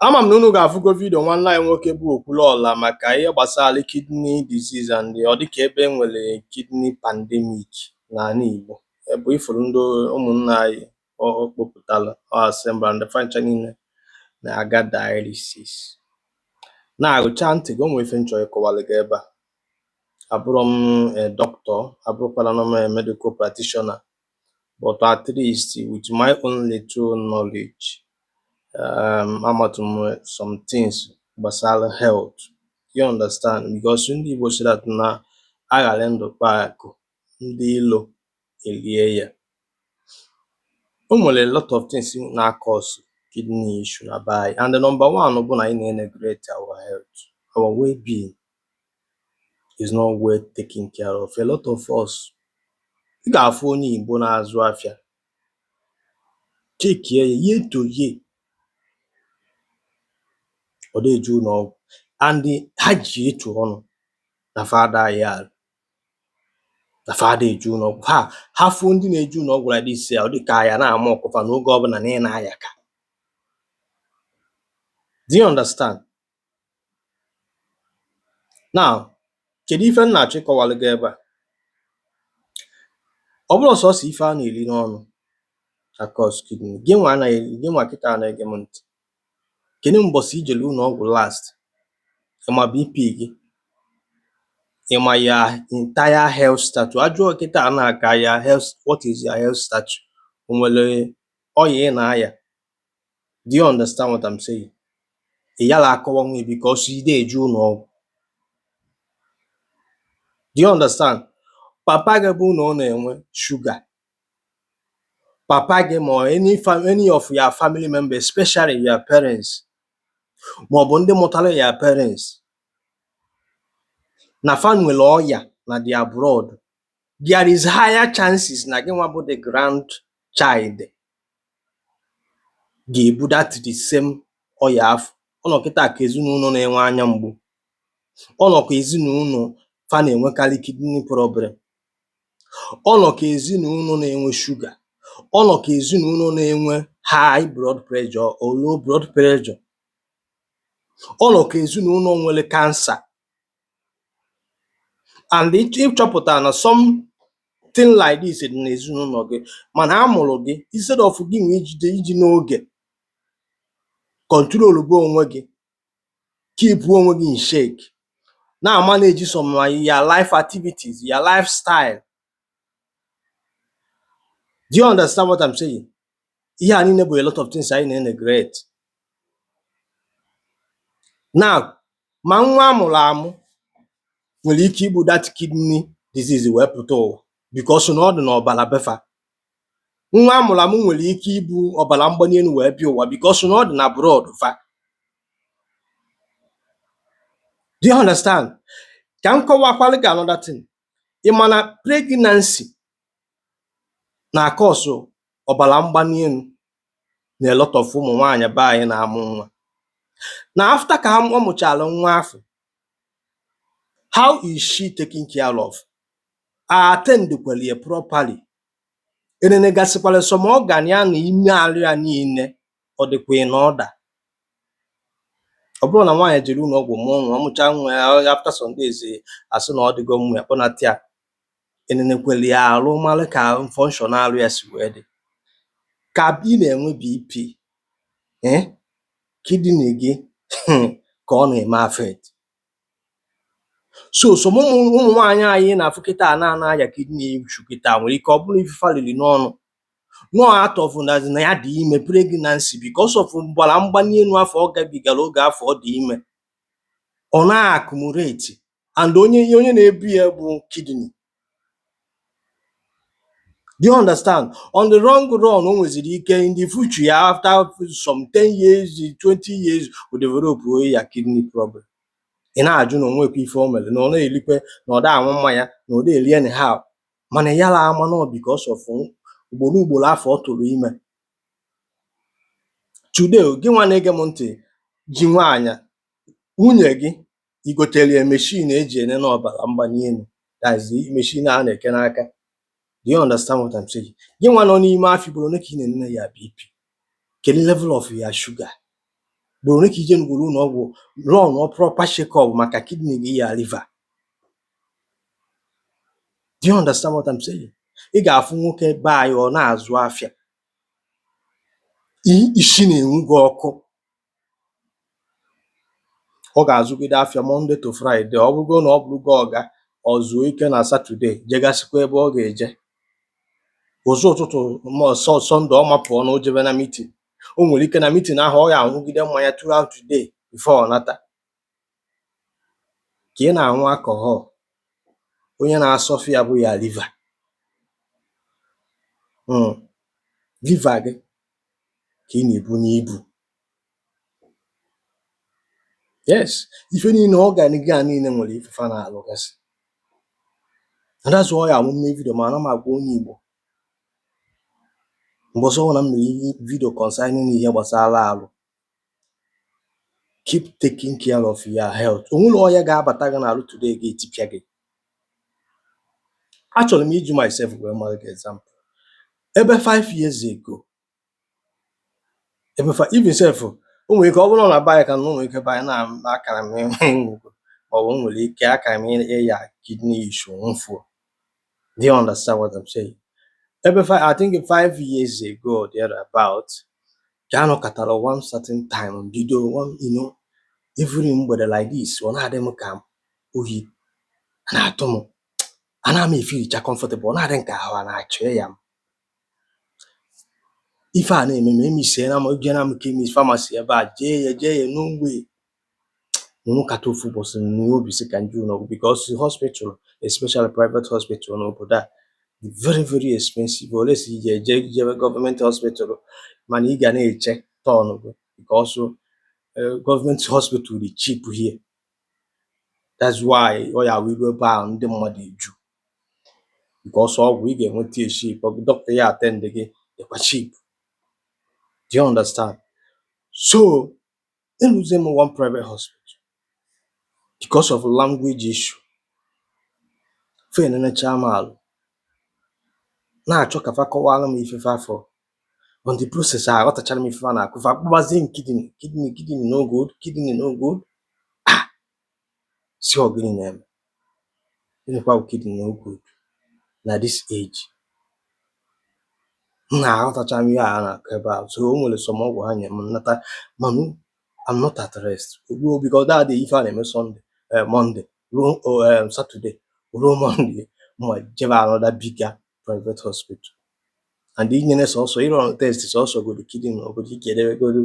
ama m na unu ga-afụgo vidio nwanne anyị nwoke bụ Okwuluọla maka ihe gbasara kidney disease and ọ dịka ebe e nwere kidney pandemic n'anị Igbo ebe ị fụrụ ndị ụmụnna anyị kpopụtara assemble ndị fa ncha niile na-aga dialysis na-agụcha ntị gị o nwere ife m chọ ịkọwalụ gị ebe a abụrọ m doctor abụrọkwanụ m medical practitioner but at least with my own little knowledge um amatụ m some things gbasara health you understand because ndị Igbo sị that na a ghara ndụ kpaa akụ ndị ilo elie ya o nwere a lot of things na-cause kidney issue na be anyị and the number one bụ na anyị na-neglect our health our well-being is not well taken care of. A lot of us ị ga-afụ onye Igbo na-azụ afịa chekie ya year to year ọ dị eje ụnọ ọgwụ and ha ji etu ọnụ na fa adị aya na fa adị eje ụnọ ọgwụ ha ha fụ ndị na-eje ụnọ ọgwụ like this ya ọ dị ka a ya na-mock fa n'oge ọbụna na ị na-ayaka do you understand Now, kedu ife m na-achọ ịkọwalụ gị ebe a? Ọ bụrọ sọsọ ife a na-eli n'ọnụ na-cause kidney, gị nwa na gị nwa kịta na-ege m ntị. Kedu mbọsị i jelu ụnọ ọgwụ last? Ị ma BP gị? Ị ma your entire health status? A jụọ kịta maka your health what is your health status? O nwere ọya ị na-aya? do you understand what I'm saying ị yala akọwanwu because ị dị eje ụnọ ọgwụ do you understand papa gị bụ na ọ na-enwe sugar papa gị ma any any of your family members especially your parents ma ọ bụ ndị mụtara your parents na fa nwere ọya na their blood there is higher chances na gị nwa bụ the grandchild ga-ebu that the same ọya afụ ọ nọ kịta ka ezinụlọ na-enwe anya mgbu ọ nọ ka ezinụlọ fa na-enwekarị kidney problem ọ nọ ka ezinụlọ na-enwe sugar ọ nọ ka ezinụlọ na-enwe high blood pressure or low blood pressure ọ nọ ka ezinụlọ nwere cancer and ị chọpụta na something like this dị n'ezinụlọ gị mana a mụrụ gị instead of gị nwa ijide iji n'oge controlba onwe gị keep onwe gị in check na-manage some of your life activities, your lifestyle Do you understand what I'm saying? Ihe a niile bụ a lot of things anyị na-eneglect. Now, ma nwa amụrụ amụ nwere ike ibu that kidney disease wee pụta ụwa because na ọ dị n'ọbara befa. Nwa amụrụ amụ nwere ike ibu ọbara mgbali elu wee bịa ụwa because na ọ dị na blood fa. Do you understand? Ka m kọwakwalụ gị another thing. Ị ma na pregnancy na-acause ọbara mgbali elu na a lot of ụmụ nwaanyị be anyị na-amụ nwa. Na after ka ha ọ mụchara nwa afụ, how is she taking care of? A attend kwara ya properly? E nenegasịkwara some organ ya na ime arụ ya niile ọ dịkwa in order ọ bụrụ na nwaanyị jere ụlọ ọgwụ mụọ nwa ọ mụcha nwa ya after some days a sị na ọ dịgo mma a kpọnata ya enenekwere ya arụ mara ka function arụ ya si wee dị ka ị na-enwe BP eh, kidney gị hmm, ka ọ na-eme affect so some ụmụ nwaanyị anyị na-afụ kịta a na na-aya kidney issue kịta nwere ike ọ bụrụ ife fa lili n'ọnụ no out of na na ya dị ime pregnancy because of ọbara mgbali elu afụ ọ gabigara oge afụ ọ dị ime ọ na-accumulate and onye ihe onye na-ebu ya bụ kidney Do you understand? On the long run, o nweziri ike in the future ya after some 10 years, 20 years, o develop onwe ya kidney problem. Ị na-ajụ na o nwekwa ife o mere na ọ na-elikwe na ọ da aṅụ mmanya na ọ da eli anyhow mana ya la ama na ọ because of ugboro ugboro afụ ọ tụrụ ime today gị nwa na-ege m ntị ji nwaanyị nwunye gị i gotere ya machine eji enene ọbara mgbali elu that's the machine a na-eke n'aka do you understand what I'm saying gị nwa nọ n'ime afọ ugboro ole ka ị na-enene your BP kedu level of your sugar ugboro ole ka i je ngwuru ụlọ ọgwụ run ọ proper check up maka kidney gị your liver Do you understand what I'm saying? Ị ga-afụ nwoke be anyị ọ na-azụ afịa i- isi na-enwu gị ọkụ ọ ga-azụgide afịa Monday to Friday ọ bụrụgo na ọ bụrụgo ọga ọ zuo ike na Saturday jegasịkwa ebe ọ ga-eje ụzọ ụtụtụ Sunday ọ mapụọ na o jebe na meeting o nwere ike na meeting ahụ ọ ga-aṅụgide mmanya throughout the day before ọ nata ka ị na-aṅụ alcohol, onye na-asuffer ya bụ your liver um liver gị ka ị na-ebunye ibu yes ife niile organ gị a niile nwere ife fa na-alụgasị and that's why ya mụ mee video ma ana m agwa onye Igbo mgbe ọzọ ọbụla m mere video concerning ihe gbasara alụ keep taking care of your health o nwere ọya ga-abata gị n'alụ today ga-etipịa gị achọrọ m iji myself wee mara gị example ebe 5 years ago ebe fi- even self o nwere ike ọ bụrụ na baya ka na o nwere ike by now akara m anwụgo ma ọ bụ o nwere ike akara m ịya kidney issue nwụfuo do you understand what I'm saying ebe fi- I think 5 years ago or thereabout ka a nọkatara one certain time bido o you know every mgbede like this ọ na-adị m ka oyi a na-atụ m a na m efeelicha comfortable ọ na-adị m ka ahụ a na-achọ ịya m ife a na-eme m emesiela m ejena m chemist pharmacy ebe a jee ya jee ya no way M nọkata ofu ụbọchị m nwee obi sị ka m jee ụlọ ọgwụ because hospital especially private hospital n'obodo a dị very very expensive unless ị ga-eje jebe government hospital mana ị ga na-eche turn gị because eh, government hospital dị cheap here that's why ọ ya wee ruo ebe ahụ ndị mmadụ eju because ọgwụ ị ga-enweta ya cheap ọ bụ doctor ya-attend gị dịkwa cheap do you understand so Eruzie m one private hospital because of language issue. Fa enenechaa m alụ, na-achọ ka fa kọwara m ife fa fụrụ. On the process, aghọtachara m ife fa na-akọ. Fa kpọbazie m kidney, kidney, kidney no good, kidney no good. Ah! sị ọ gịnị na-eme gịnịkwa bụ kidney no good na this age m na-aghọtacha ihe a na-akọ ebe a so o nwere some ọgwụ ha nye m m nata mana I'm not at rest ruo because that day ife a na-eme Sunday eh, Monday ruo oh, eh, Saturday ruo Monday m jebe another bigger private hospital and inyere sọsọ ịrun test sọsọ godu kidney na obodo ị ga-edebegoro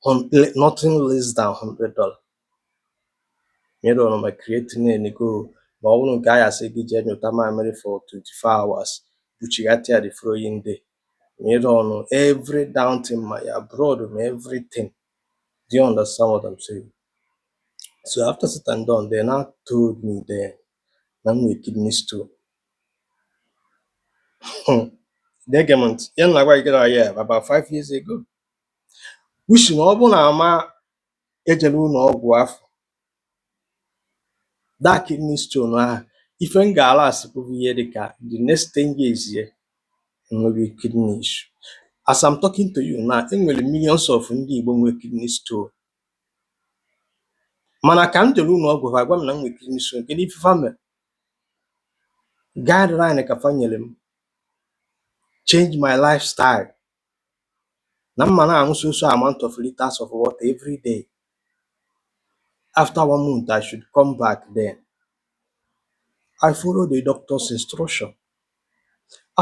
hun- le- nothing less than 100 dollar M erun ma creatinine go ma ọ bụrụ nke a ya-asị gị jee nyụta mamịrị for 24 hours buchighatị ya the following day. M erun every damn thing ma ya blood ma everything. Do you understand what I'm saying? So after said and done, they now told me then na m nwere kidney stone. Na-ege m ntị, ya na-agwa gị gara ya about five years ago. Which na ọ bụ na ama ejere ụlọ ọgwụ afụ that kidney stone ahụ ife m ga-ala asịpụghị ihe dị ka the next 10 years e nwebe kidney issue as I'm talking to you now enwere millions of ndị Igbo nwere kidney stone mana ka m jere ụlọ ọgwụ ha gwa m na m nwere kidney stone kedu ife fa mere guideline ka fa nyere m change my lifestyle na m ma na-aṅụ so so amount of liters of water every day after one month i should come back then i follow the doctor's instruction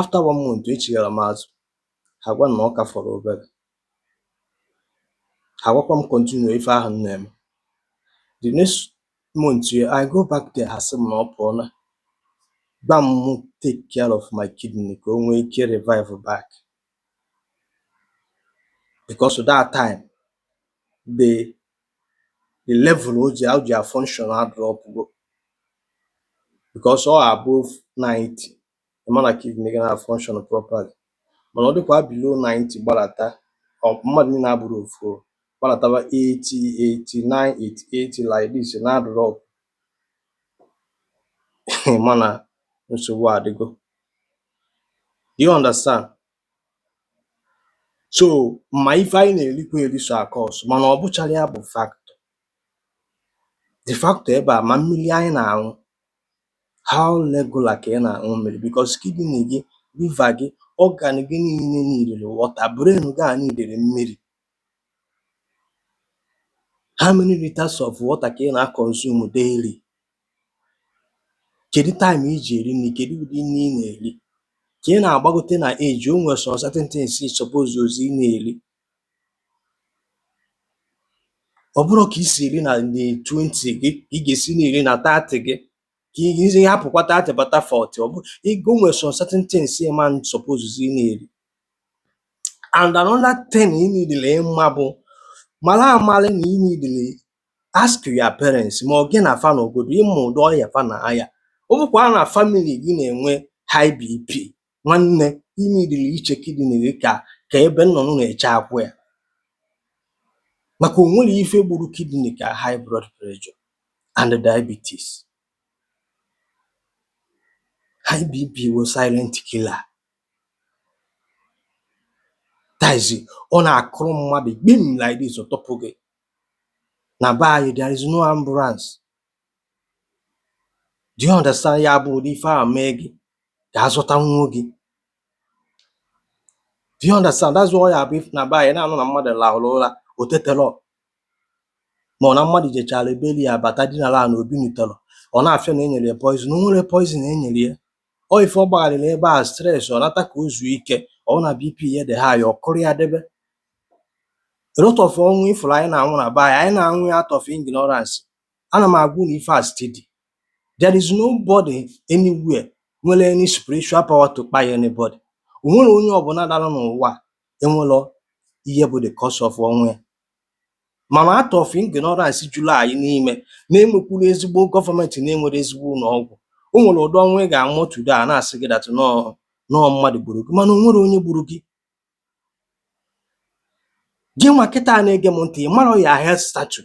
after one month echighara m azụ ha gwa m na ọ ka fọrọ obere ha gwakwa m continue ife ahụ m na-eme the next month, I go back there, ha sị m na ọ pụọna. Gwa m mụ take care of my kidney ka o nwee ike revive back. Because that time, the the level o ji o ji function adrọpụgo. Because ọ above 90, ị ma na kidney gị na-function properly mana ọ dịkwa below 90 gbalata mmadụ niile abụrọ ofu o. gbalataba 80 89 88 like this na-adrop ị ma na nsogbu adịgo do you understand so ma ife anyị na-erikwa eri so a-cause mana ọ bụcharọ ya bụ factor the factor ebe a ma mmiri anyị na-aṅụ How regular ka ị na-aṅụ mmiri? Because kidney gị, liver gị, organ gị niile needịrị water. Brain gị a needịrị mmiri. How many liters of water ka ị na-consume daily? Kedu time i ji eri nri? Kedu ụdị nri ị na-eri? Ka ị na-agbagote na age, o nwere some certain things ị supposerọzi ị na-eri. Ọ bụrọ ka i si eri na na twenty gị ka ị ga-esi na-eri na thirty gị ka ị hapụkwa thirty bata forty ọ bụ ị o nwere some certain things ị man supposezi na-eri and another thing ị needịrị ịma bụ mara amalị na ị needịrị ask your parents ma ọ gị na fa nọgodu ịma ụdị ọya fa na-aya ọ bụkwa na family gị na-enwe high BP Nwanne, ị needịrị iche kidney gị ka ka ebe nnụnụ na-eche akwụ ya maka o nwerọ ife gburu kidney ka high blood pressure and diabetes. High BP bụ silent killer. That is, ọ na-akụrụ mmadụ gbim like this ọ tọpụ gị. Na be anyị there is no ambulance Do you understand? Ya bụ ụdị ife a mee gị ka azụta nwuo gị. Do you understand? That's why ya bụ ị fụ na be anyị na-anụ na mmadụ lahụrụ ụra o tetelọ ma ọ na mmadụ jechara ebeli ya bata dinara na o binitelọ a na-asị na e nyere ya poison o nwerọ poison e nyere ya ọ ife ọ gbagharịrị ebe a stress ọ nata ka o zuo ike ọ na BP ya dị high ọ kụrụ ya debe a lot of ọnwụ ị fụrụ anyị na-anwụ na be anyị anyị na-anwụ ya out of ignorance ana m agwa unu ife a steady there is nobody anywhere nwere any spiritual power to kpai anybody o nwerọ onye ọbụla dara n'ụwa enwerọ ihe bụ the cause of ọnwụ ya mana out of ignorance juru anyị n'ime na enwekwurọ ezigbo gọọmentị na enwerọ ezigbo ụlọ ọgwụ o nwere ụdị ọnwụ ị ga-anwụ today a na-asị gị that na ọ na ọ mmadụ gburu gị mana o nwerọ onye gburu gị gị nwa kịta na-ege m ntị ị marọ your health status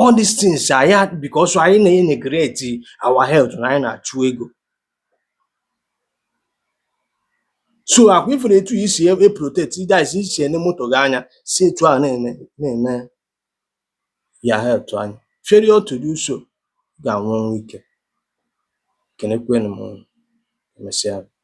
All these things are here because anyị na-eneglect our health na anyị na-achụ ego. So akwa ị fụrụ etu i si e protect ide anyị si i si ene moto gị anya si etu a na-ene na-ene your health anya. Failure to do so ga-anwụ ọnwụ ike. Ekenekwana m unu. Emesịa.